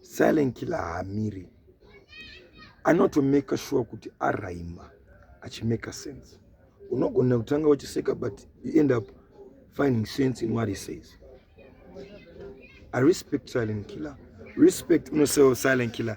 silent killer haamiri anotomeka shuwa kuti araima achimeka sense unogona kutanga uchiseka but you end up finding sense in what he says i respect silent killer respect unosewo silent killer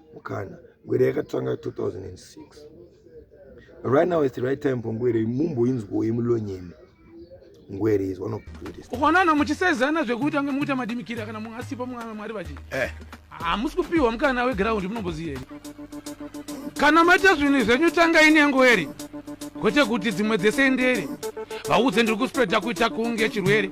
mukana ngwere yakatanga 2006 right now is the right time for ngwere mumboinzwa yemulonyeni ngwere is one of the greatest ukaonana muchisezana zvekuti ange mukuita madimikira kana munhu asipo mwana mwari vachi eh. hamusi eh. kupiwa mukana weground munomboziyei kana maita zvinhu zvenyu tangai nengweri kwete kuti dzimwe dzese ndere vaudze ndiri kuspreada kuita kunge chirwere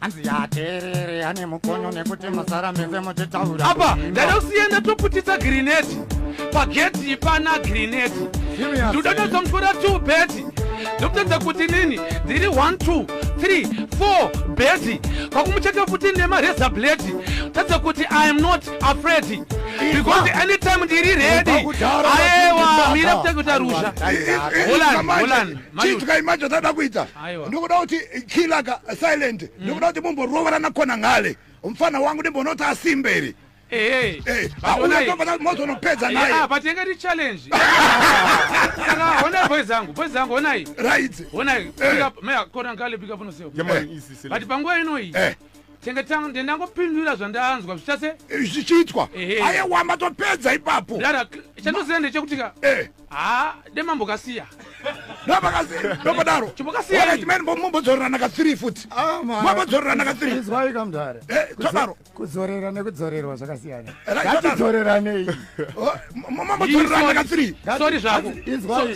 hanzi yaterere ane mukonyo nekuti mazara mese muchitaura apa ndada kusiyana toputisa grineti pageti ipana grineti ndoda tozomutwora two beti ndokutadza kuti nini ndiri 1 2 3 4 beti kwakumucheka futi nemareza bleti tadza kuti i am not afraid because anytime ndiri redi aewa mira kutekuta rusha holani holani chief kaimacho tada kuita ndikuda kuti kilaka silent mm. ndikuda kuti mumboroverana kona ngale mfana wangu ndimbonoti asimberi eh, eh. ah, mozonopedza nayepatinenge ti challenge saka honai boys angu boys angu honai honai eh. kona ngale bikapunoseo but panguva inoyi chengetangu ndiye ndangopindura zvandanzwa zvichase Eh, zvichiitwa Ehe. ayewa matopedza ipapo dara chandoziva ndechekuti ka Eh, ha demambo kasiya ndopakasi- ndopodaro Chipokasiya Wala, iri. chimene mbo- mombodzorerana ka three futi Ah, ma- mombodzorerana ka three Izwai kamdara Eh, todaro. kudzorera nekudzorerwa zvakasiyana Right, todaro. ngatidzoreranei mambotorerandakasorry zvako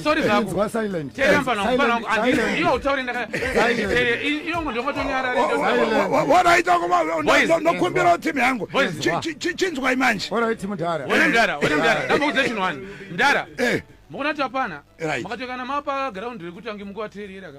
sorry zvako terambanaiwe utaure ndakaiwe ndongotonyarandokumbirawo timu yangu chinzwai manje mdara mdara ndamboudza chinhu wani mdara mokona kuti apana makatokana mapa ground rekuti ange mukuvateerera ka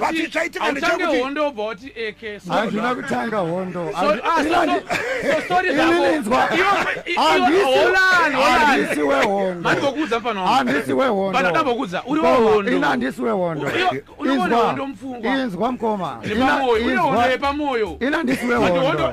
Vati chaitika ndechekuti hondo wobva wati eke hazvina kutanga hondo andisi wehondo andisi wehondo ina andisi wehondo inzwa mkoma ina andisi wehondo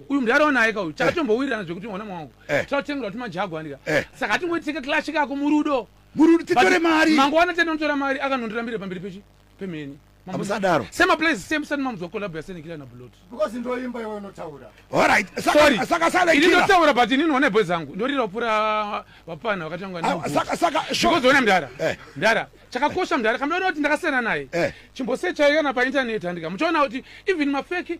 uyu mdara wanaye ka uyu chakatombowirirana zvekuti mwana mwangu Eh. totengera tumajagwani ka Eh. saka hatingoitike clash kako murudo murudo titore mari mangwana tinotora mari akanondirambira pamberi pechi pemheni Mambo- Hamusadaro. sema place same sani mamuzwa collab yasenekila na bulot because ndoimba iwe unotaura alright sorry saka saka sale ini killer ndotaura but ini none bwe zangu ndorira pura vapana vakatanga Ah, saka saka because short ona mdara Eh. mdara chakakosha mdara kamdaona kuti ndakasiyana naye Eh. chimbosechaikana paintaneti handika muchaona kuti even mafeki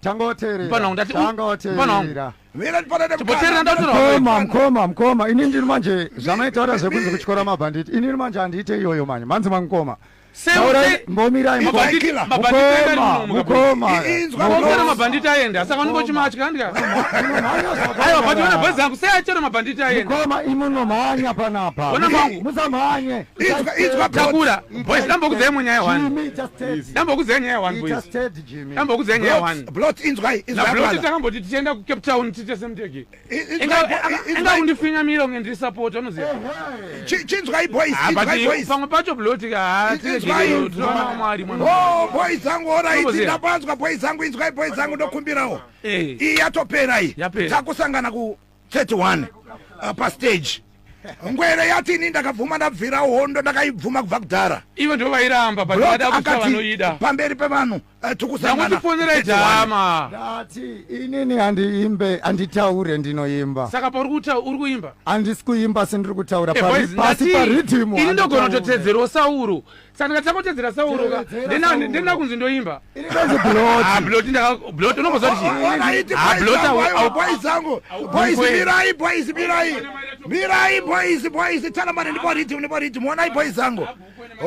tangoteerera mkoma mkoma mkoma ini ndiri manje zvamaitaura zvekunzi kutyora mabhanditi inini manje handiite iyoyo manje manzi mamkoma mabhanditi aenda saka unongochimatya ndikaiwa but ona bhazi yangu sei achero mabhanditi aendakoma imunomhanya panapa musamhanye takura boys dambokudzai munyaya one dambokudzai nyaya one boys ambokudzai nyaya one blot inzwai na blot takamboti tichienda ku cape town tiite semtege inga kundifinya mira unge ndiri support unoziva chinzwai boys ah, chinzwai boys pamwe pacho blot ka tiregei tinoona mwari mwana oh boys zangu ora idzi ndapanzwa boys zangu inzwai boys zangu ndokumbirawo eh. iyi yatopera iyi takusangana ku 31 uh, pastage ngwere yati ini ndakabvuma ndabvira hondo ndakaibvuma kubva kudhara ivo ndo vairamba bada kusa vanoida pamberi pevanhu uh, tikusanganatifonera jama ndati inini handiimbe handitaure ndinoimba saka pauri kuta uri kuimba handisi kuimba sindiri kutaura eh, pasi paridhimu ini ndogona kutotedzerwo sauro saka takotedzera sauroka ndenda kunzi ndoimba blot ndakablot unomboziva tichiiboyzanguboyzmirai boyz mirai mirai boyz boyz talamane ndipo ridim ndipo ridim onai boyz zangu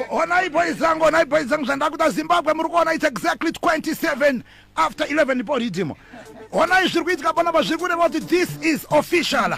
onai boyz zangu onai boyz zangu zvandakuda zimbabwe muri kuona its exactly 27 after 11 ndipo ridim onai zviri kuitika panapa zviri kureva kuti this is official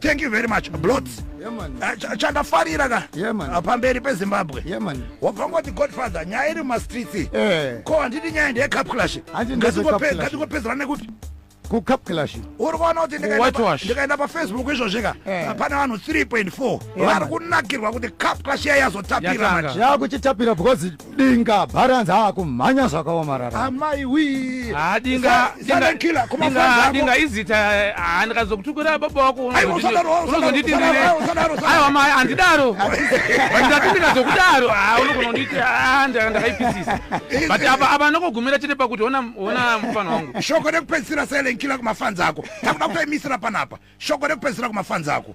thank you very much blots eh, chandafarira ka ah, pamberi pezimbabwe wabva ngoti godfather nyaya iri mumastreets eh. ko handiti nyaya ndeyecup clash ngatingopedzana nekupi kucup clash uri kuona kuti ndikaenda pafacebook izvozvi ka eh. ah, pane vanhu 3.4 vari kunakirwa kuti cup clash iya yazotapira yakuchitapira because dinga bharanzi akumhanya zvakaomarara amai wii Ah, dinga Sa- dinga- silent killer, kuma dinga- friends ako. dinga izita ah, ndikazokutukira baba wako Aiwa, usadaro, usadaro, unozonditinire usadaro, usadaro, usadaro. aiwa mai handidaro ndati ndikazokudaro ah, unogona kunditi ah, nda- ndakaipisisa but apa apa ndokugumira chete pakuti ona ona mufana wangu shoko rekupedzisira silent killer kumafanzi ako takuda kutoimisira panapa shoko rekupedzisira kumafanzi ako